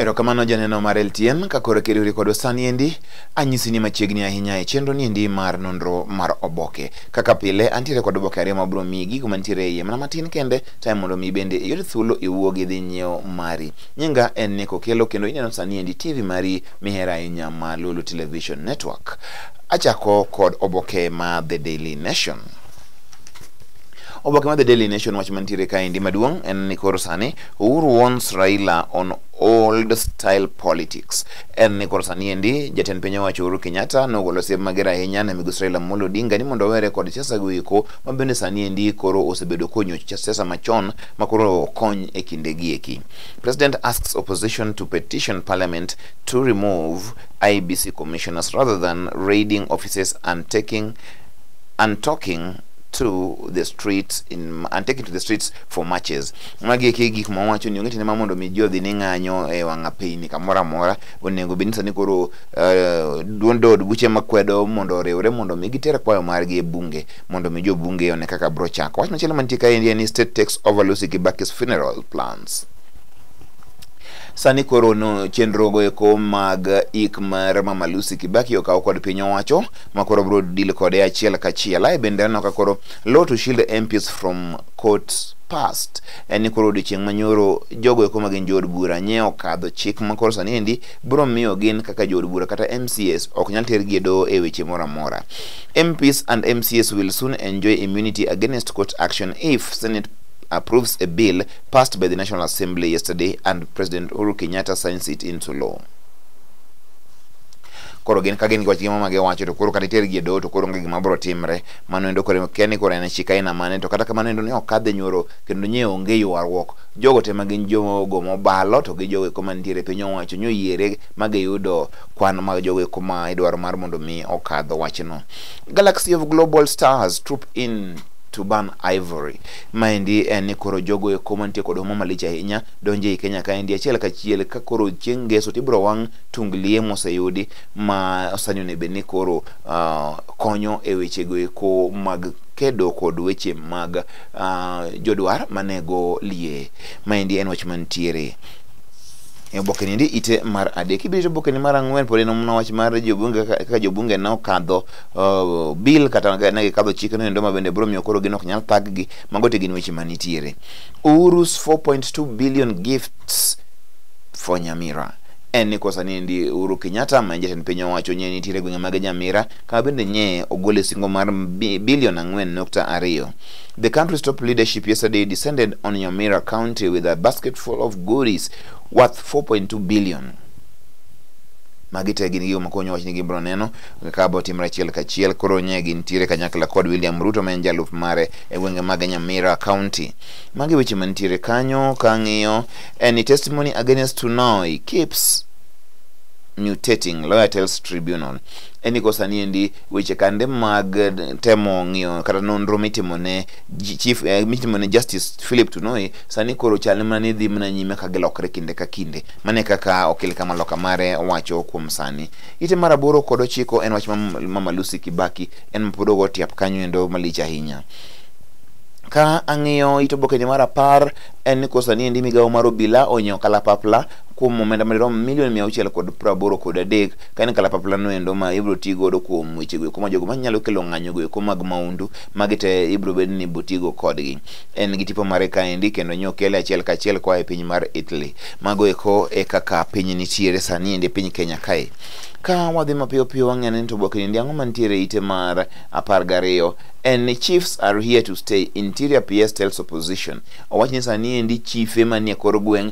Erokamano janeno mar LTN ka koro kiriwri kodwa sani endi anyisi ni machiegni ahinya e chenro ni endi mar nonro mar oboke. Kaka pile antiere kod oboke ariyo ma bro miyi gigo mantiere e iye mana matin kende time mondo mi bende iyud thuolo iwuog idhi nyiewo mari nyinga en niko kelo kendo ineno sani endi tv mari mihero ahinya ma lulu television network achako kod oboke ma the daily nation oboke ma the daily nation wach mantiere kaendi maduong' en ni koro sani uhuru warns raila on old style politics en ni koro sani endi jatend piny owacho uhuru kenyatta nogolo siem mager ahinya ne migosi raila amolo odinga ni mondo owere kod siasa goeko ma bende sani endi koro osebedo konyoch cha siasa machon ma koro okony e kinde gi eki. President asks opposition to petition parliament to remove IBC commissioners rather than raiding offices and taking and talking to the streets in, and taken to the streets for marches magi eki gik ma wacho ni onge tiende ma mondo mi ji odhi ni ng'anyo e wang'a piny kamoro amora onego bed ni sani koro eh, duond od buche makwedo mondo oriwre mondo mi giter kwayo margi e bunge mondo mi jo bunge one kaka bro chako wach machielo mantie kaendi en ni state takes over Lucy Kibaki's funeral plans sani koro no chenrogo eko mag ik mar mama Lucy Kibaki okaw kod piny owacho ma koro bro deal kode achiel kachiel ae bende aneno ka koro law to shield MPs from courts past en ni koro odiochieng' manyoro jogo eko ma gin jood bura nye okadho chik ma koro sani endi biro miyo gin kaka jood bura kata MCS ok nyal tergi e doho e weche moro amora. MPs and MCS will soon enjoy immunity against court action if Senate approves a bill passed by the National Assembly yesterday and President Uhuru Kenyatta signs it into law. koro gin ka gin gi wach gima ma giwacho to koro kata itergi e doho to koro onge gima biro timre mano endo koro kia ni koro en chik aina mane to kata kamano endo ne ok kadhe nyoro kendo nye onge ywaruok jogo te ma gin jogo mobalo to gi jogo eko mantiere piny owacho nyoyiere ma giyudo kwan mag jogo eko ma idwaro mar mondo mi okadho wachno galaxy of global stars troop in to ban ivory maendi en ni koro jogo eko mantie kod huma malich ahinya donjo ei kenya kaendi achiel kachiel ka koro chieng' ngeso tibiro wang' tung liye moseyudi ma osanyone bed ni koro uh, konyo e wechego eko mag kedo kod weche mag uh, jodwar manego lie maendi en wach mantiere e oboke niendi ite mar adek ibiro oboke ni mar ang'wen pod en omno wach mar jobunge kaka kaka jobunge ne okadho uh, bill kata ne gikadho chik noendo ma bende biro miyo koro gin ok nyal thaggi mago te gin weche manitiere Uhuru's 4.2 billion gifts for Nyamira en ni kosa ni ndi Uhuru Kenyatta ma en jatend piny owacho nye nitiere gwenge mag Nyamira Ka bende nye ogol e singo mar bi- bilion ang'wen nukta ariyo. The country's top leadership yesterday descended on Nyamira County with a basket full of goodies worth 4.2 billion. Magi te gin gigo makonyo wach ni gibro neno kaka bo timre achiel kachiel koro nye gintiere kanyakla kod William Ruto ma en jalup mare e gwenge mag Nyamira County. Magi weche mantiere kanyo ka ng'iyo any testimony against Tunoi keeps mutating, lawyer tells tribunal. en ni sani endi weche kande mag eh, temo ng'iyo kata nonro mitimo ne chief eh, mitimo ne justice philip tunoi sani koro chal mana ni dhi mana nyime ka gilokre kinde ka kinde mane kaka okil kama loka mare wacho kuom sani ite mar aboro kod ochiko en wach mama lucy kibaki en mapod ogo tiap kanyo endo malich ahinya ka ang'iyo ito bokeni mar apar en ni kosa ni endi migawo mar obila onyo kalapapla kuom omenda madirom milion mia auchiel kod praboro kod adek ka en kalapapla no endo ma ibro ti godo kuom weche go kuma jogo manyalo kelo ng'anyo go eko mag maundu magi te ibro bed ni ibro ti go kodgi en gi tipo mare kaendi kendo nyo kele achiel kachiel koa e piny mar Italy mago eko e kaka piny nitiere sani endi e piny Kenya kae ka wadhi mapiyo piyo wang'eyo ni to oboke ni ang'o mantiere e ite mar apar gariyo en ni chiefs are here to stay interior PS tells opposition owacho ni sani endi chife manie kor gweng'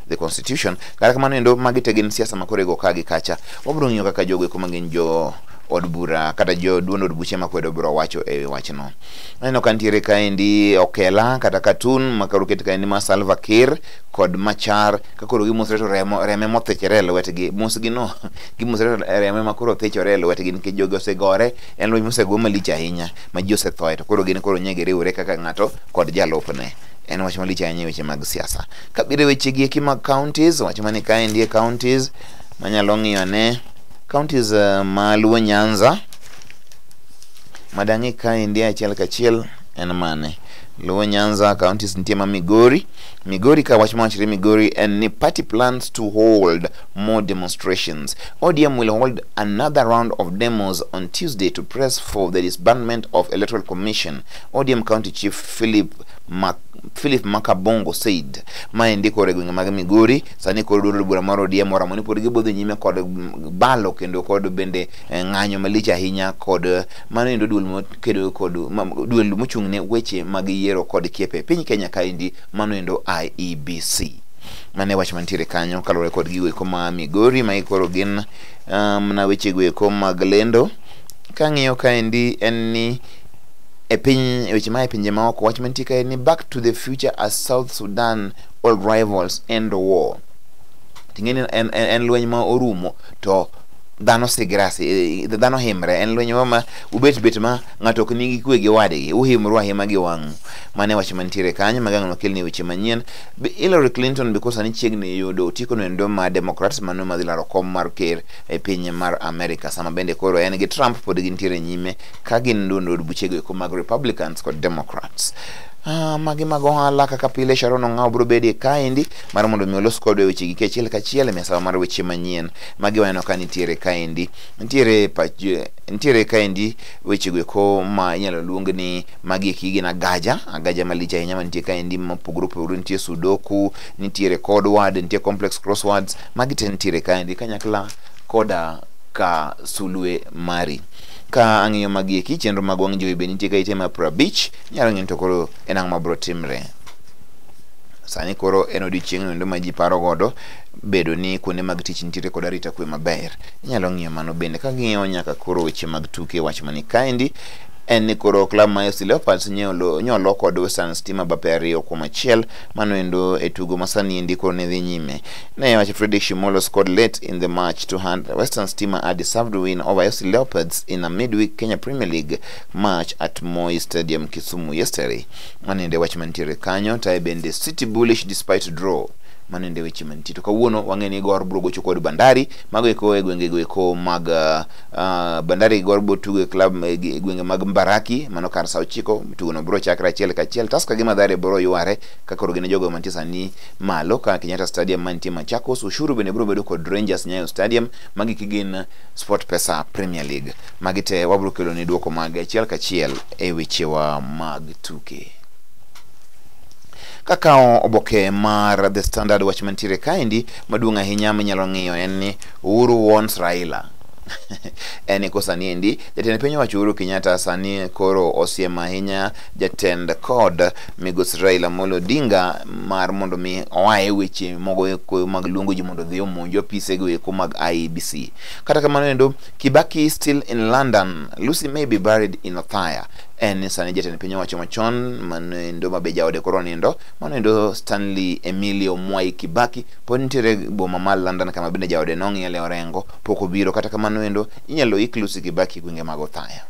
the constitution kata kamano endo magi te gin siasa makoro igo ka gi kacha wabiro ng'iyo kaka jogo eko magin jo od bura kata jo duond od buche makwedo biro wacho e wi wachno aneno ka nitiere kaendi okela kata katun makoro ket kaendi ma salva kir kod machar kakoro gimosre to remo reme mothichore e lwetgi mosgi no gimosre to reme makoro thichore e lwetgi nikech jogi osegore en lweny mosego malich ahinya ma ji osethoe to koro gin koro nyegi riwore kaka ng'ato kod jalupne en wach malich ahinya e weche mag siasa kabiro e wechegi eki mag counties wach mani kaendi e counties manyalo ng'iyo ane counties uh, maluo nyanza madang'i kaendi achiel kachiel en mane luo nyanza counties nitie ma migori migori ka wach mawachre migori en ni party plans to hold more demonstrations odm will hold another round of demos on tuesday to press for the disbandment of electoral commission odm county chief philip Mac Philip Makabongo said ma endi koro e gwenge mag Migori sani koro duond od bura mar ODM oramo ni pod gibodho nyime kod mm, balo kendo kod bende eh, ng'anyo malich ahinya kod eh, mano endo duol mokedo kod ma- duol mochung' ne weche mag yiero kod kiepe e piny Kenya kaendi mano endo IEBC mane wach mantiere kanyo kaluwore kod gigo eko ma Migori ma koro gin ah, mna wechego eko mag lendo kang'iyo kaendi en ni e piny e weche mae pinje maoko wach mantie kae ni back to the future as south sudan old rivals end war ting'e ni en, en, en lweny ma orumo to dhano sigre asi- eh, dhano himre en lweny ma ma ubet bet ma ng'ato ok nigi kwe gi wadgi uhimru ahima gi wang'u mane wach mantiere kanyo magang' nokelni weche manyien Be Hillary Clinton because sani chiegni yudo otikono endo ma Democrats mano madhi laro kom mar ker e piny mar America sama bende koro en gi Trump pod gintiere nyime ka gin duond od buchego eko mag republicans kod democrats Ah, magi mag ohala kaka pile sharon ong'aw biro bedie kaendi mar mondo mi olos kodwa weche gi kachiel kachiel e misawa mar weche manyien magi waneno ka nitiere kaendi nitiere pach- nitiere kaendi wechego eko ma inyalo luong ni magi eki gin agaja agaja malich ahinya mantie kaendi mopogore opogore nitie sudoku nitiere code word nitie complex crosswords magi te nitiere kaendi kanyakla koda ka sulwe mari Ka ang'iyo magieki, chenro mag wang' jowi be nitie ka ite ma prabich, nyalo ng'eyo ni to koro en ang'o ma biro timre. Sani koro en odiechieng' noendo ma ji paro godo bedo ni kuonde mag tich nitiere kod arita kwe maber. Inyalo ng'iyo mano bende ka ng'iyo nyaka koro weche mag tuke wach mani kaendi en ni koro klab ma FC Leopards nyolo nyolo kod Western Stima bape ariyo kuom achiel mano endo e tugo ma sani endi koro ne dhi nyime. Naye wacho Fredrick Shimolo scored late in the match to hand Western Stima a deserved win over FC Leopards in a midweek Kenya Premier League match at Moi Stadium, Kisumu yesterday. Manende wach mantiere kanyo tae bende City bullish despite draw manende weche mantie to kawuono wang'e ni Gor biro gocho kod Bandari mago eko e gwenge goeko mag uh, uh, Bandari Gor biro tugo e club e gi- e gwenge mag Mbaraki mano kar saa ochiko tugono biro chakre achiel kachiel Tusker gi Mathare biro yware ka koro gin e jogo mantie sani malo ka Kenyatta Stadium mantie Machakos. Ushuru bende biro bedo kod Rangers Nyayo Stadium. Magi kigin Sport Pesa Premier League. Magi te wabiro kelo ni duoko mag achiel kachiel e wechewa mag tuke. Kakawo oboke mar The Standard wach mantiere kaendi maduong' ahinya minyalo ng'iyo en ni Uhuru warns Raila en ko sani endi jatend piny owacho Uhuru Kenyatta sani koro osiem ahinya jatend kod Migosi Raila Amolo Odinga mar mondo mi oaye weche mogo eko mag luongo ji mondo odhi omonj apisego eko mag IEBC. Kata kamano endo, Kibaki is still in London, Lucy may be buried in Othaya. En sani jatend piny owacho machon mano endo ma be jaode koro nindo, mano endo Stanley Emilio Mwai Kibaki pod nitiere boma ma London kama bende jaode nong'iele orengo pok obiro. Kata kamano endo, inyalo ik Lucy Kibaki e gwenge mag Othaya.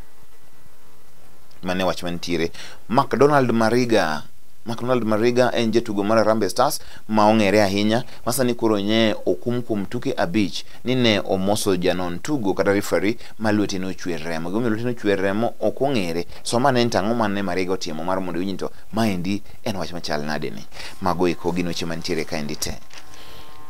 Mane wach mantiere McDonald Mariga McDonald Mariga en jatugo mar Harambee Stars ma ong'ere ahinya ma sani koro nye okum kuom tuke abich ni ne omoso janon tugo kata referee ma lwete nochwer remo. Gimomiyo lwete nochwer remo ok ong'ere. So ma ne en tang'o ma ne Mariga otimo mar mondo iwinj to maendi en wach machal nade ni. Mago eko gin weche mantiere kaendi te.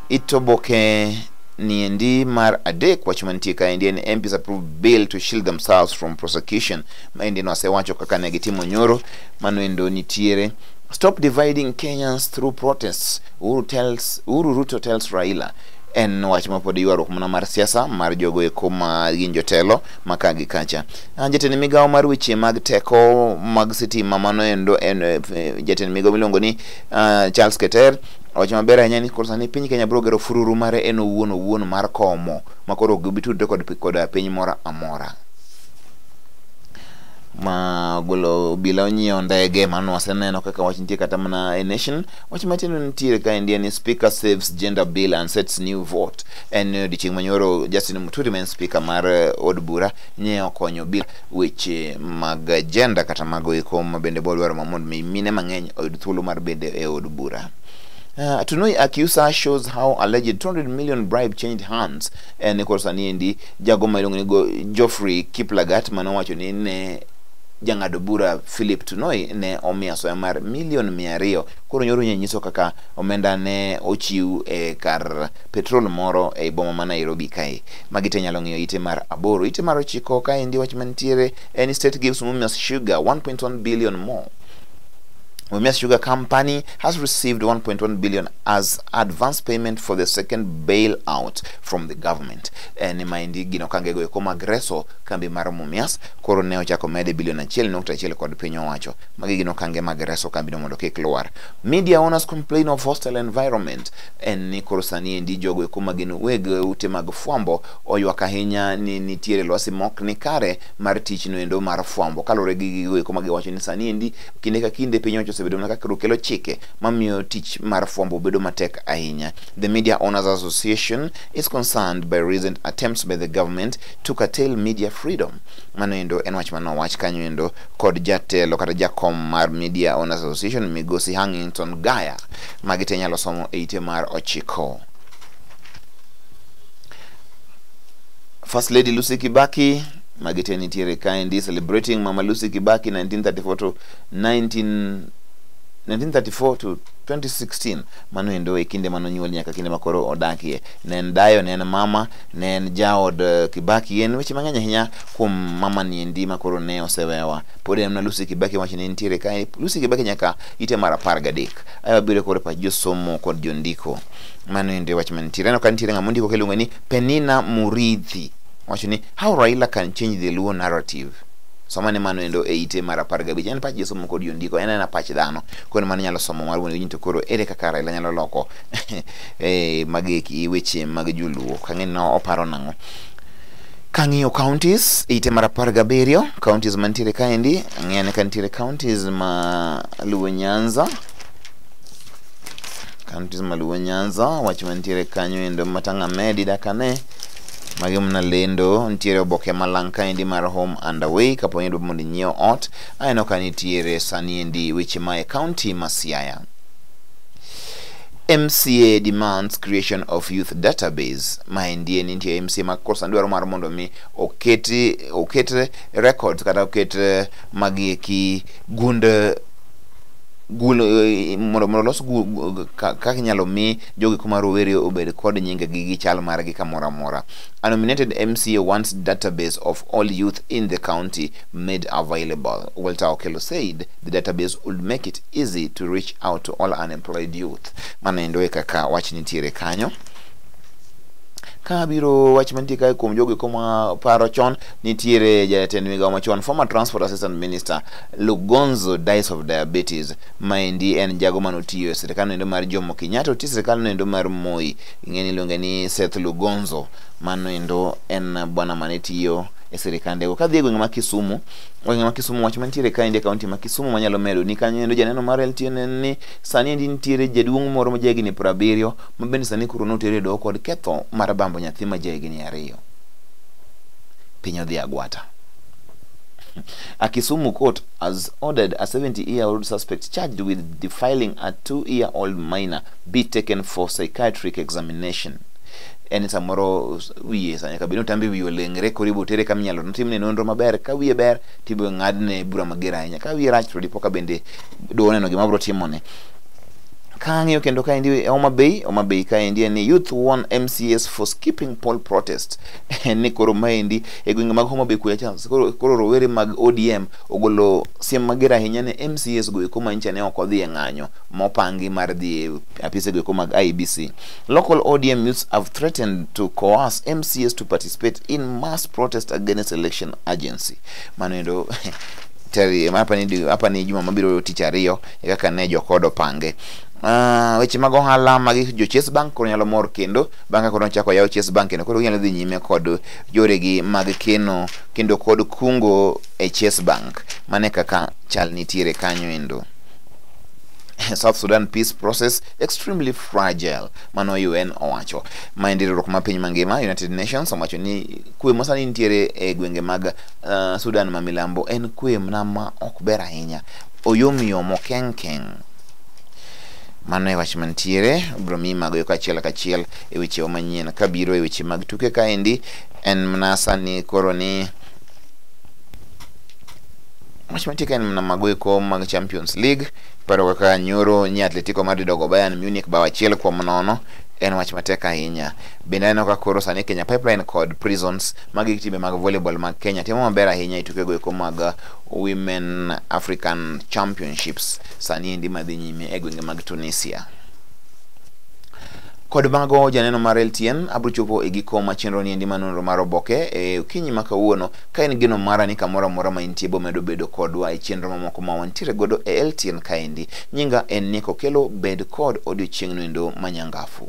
It oboke niendi mar adek wach mantie kaendi en MPs approve bill to shield themselves from prosecution Maendi nwasewacho kaka ne gitimo nyoro, mano endo nitiere. Stop dividing Kenyans through protests. Uhuru tells, Uhuru Ruto tells Raila en wach mapod ywaruok mana mar siasa mar jogo eko ma gin jotelo ma ka gi kacha. Ah, Jatend migawo mar weche mag teko mag sitima mano endo en eh, jatend migawo miluongo ni ah, Charles Keter owacho maber ahinya ni koro sani piny Kenya biro gero fururu mare en owuon owuon mar komo ma koro ok gibitudre kod, kod piny moro amora. ma ogolo obila onyiewo ndege mano waseneno kaka wach nitie kata mana a nation wach matindo nitiere ka endi en ni speaker saves gender bill and sets new vote en ni odiochieng' manyoro justin muturi ma en speaker mar eh, od bura nye okonyo bill weche mag gender kata mago eko ma bende bodwaro ma mondo mi mine mang'eny oyud thuolo mar bende e od bura Uh, Tunoi Akiusa shows how alleged 200 million bribe changed hands. And of course, Aniendi jago ma iluongo ni go Geoffrey Kiplagat mane owacho ni ne jang'ado bura Philip Tunoi ne omiyo asoya mar milion mia ariyo koro nyoro nye nyiso kaka omenda ne ochiw e kar petrol moro e boma ma Nairobi kae magi te nyalo ng'iyo ite mar aboro ite mar ochiko kaendi wach mantiere en state gives Mumias Sugar 1.1 billion more Mumias Sugar Company has received 1.1 billion as advance payment for the second bailout from the government. eh, ni maendi gin okangego eko mag reso kambi mar Mumias koro ne ochako mede bilion achiel nukta achiel kod piny owacho. Magi gin okange mag reso kambino mondo kik lwar. Media owners complain of hostile environment en ni koro sani endi jogo eko ma gin weg ute mag fwambo oywak ahinya ni nitiere lwasi mok ni kare mar tichno endo mar fwambo kaluwore gi gigo eko ma giwacho ni sani endi kinde ka kinde piny owacho osebedo mana kaka kelo chike mamiyo tich mar fwambo bedo matek ahinya. The Media Owners Association is concerned by recent attempts by the government to curtail media freedom. Mano endo en wach mano wach kanyo endo kod jatelo kata jakom mar Media Owners Association Migosi Hangington Gaya magi te nyalo somo e ite mar ochiko. First Lady Lucy Kibaki magi te nitiere kaendi celebrating Mama Lucy Kibaki 1934 to 19 1934 to 2016 mano endo e kinde mane onyuol nyaka kinde makoro odakie ne en dayo ne en mama ne en jaod eh, kibaki en weche mang'eny ahinya kuom mama ni endi makoro ne osewewa pod en mana lucy kibaki wacho ni nitiere ka lucy kibaki nyaka ite mar apar gadek ae wabiro koro e pach josomo kod jondiko mano endo e wach manitiere aneno ka nitiere ng'ama ondiko kiluongo ni penina muridhi wacho ni how raila can change the luo narrative somane mano endo e ite mar apar gabich en pach josomo kod jondiko en ena pach dhano koro mano nyalo somo mar wuon to koro ere kaka Raila nyalo loko eh, mageki weche mag joluo kang'e no oparo nang'o kang'iyo counties ite mar apar gabiriyo counties mantiere kaendi ang'eyane ka nitiere counties ma luwo nyanza counties ma luwo nyanza wach mantiere kanyo endo matang'a medi dakane magi mna lendo nitiere oboke malang kaendi mar home and away kapo ni idwa mondo inyiew ot Aneno ka nitiere saniendi weche mae kaunti ma Siaya. MCA demands creation of youth database. Maendi en nitie MCA ma kosa dwaro mar mondo mi oketi oket records kata oket eh, magi eki gund eh, gul eh, mondo mondo los gu- gu- ka- kaka inyalo mi jogi kuma rowere obed kod nyinge gi gi chal margi kamoro amora. A nominated MCA wants database of all youth in the county made available. Walter Okello said the database would make it easy to reach out to all unemployed youth. Mano endo e kaka wach nitiere kanyo ka biro wach mantie kae kuom jogo eko ma paro chon nitiere jatend migawo machon former transport assistant minister lugonzo dies of diabetes maendi en jago mane otiyo e sirikal noendo mar jomo kenyatta otiyo e sirikal noendo mar moi ing'eni iluonge ni seth lugonzo mano endo en bwana mane tiyo e sirikandego. Kadhi e gweng' ma Kisumu, gweng' ma Kisumu wach mantiere ka endi e kaunti ma Kisumu manyalo medo ni kanyo endo janeno mar LTN en ni sani endi nitiere jaduong' moro ma jahigni piero abiriyo ma bende sani koro notere e doho kod ketho mar bambo nyathi ma jahigni ariyo. Piny odhi agwata. A Kisumu court has ordered a 70-year-old suspect charged with defiling a two-year-old minor be taken for psychiatric examination. en samoro wiye sa nyaka bed ni otambi wiye olengre koro ibo tere kama inyalo notimne nonro maber ka wiye ber to ibo ng'adne bura mager ahinya ka wiye rach to dipo ka bende dowo neno gima bro timone kang'iyo kendo kaendi e Homa Bay Homa Bay kaendi en ni youth won MCS for skipping poll protest en ni koro maendi e gwenge mag Homa Bay kuya cha koro, koro rowere mag ODM ogolo siem mager ahinya ne MCS goeko manyicha ne ok odhi e ng'anyo mopangi mar dhi e apise goeko mag IBC Local ODM youths have threatened to coerce MCAs to participate in mass protest against election agency. Manendo teri hapa ni hapa ni juma mabiro tich ariyo e kaka ne jokodo pange Uh, weche mag ohala mag jo Chase Bank koro nyalo mor kendo bang' ka koro nochako yaw Chase Bank kendo koro ginyalo dhi nyime kod yoregi mag keno kendo kod kungo e Chase Bank mane kaka chal nitiere kanyo endo South Sudan peace process extremely fragile mano UN owacho ma en riwruok ma piny mangima United Nations owacho ni kwe ma sani nitiere e gwenge mag uh, Sudan ma milambo en kwe mana ma ok ber ahinya oyomyom okenkeng mano e wach mantiere bro mi mago yo kachiel kachiel e wechewa manyien kabiro e weche mag tuke kaendi en mana sani koro ni wach mantie ka en mana mago eko mag Champions League Paro kaka nyoro nya Atletico Madrid ogo Bayern Munich bao achiel kuom nono en wach matek ahinya. Bende aneno ka koro sani Kenya Pipeline kod Prisons magi timbe mag volleyball mag Kenya timo maber ahinya e tukego eko mag uh, Women African Championships sani endi madhi nyime e gwenge mag Tunisia. Kod mago janeno mar LTN abro chopo e giko ma chenro ni endi ma nonro mar oboke e okinyi ma kawuono Ka en geno mara ni kamoro amora ma intie bomedo bedo kodwa e chenro mamoko ma wantiere godo e LTN kaendi. Nyinga en Nick Okello, bed kod odiochieng'no endo manyangafu.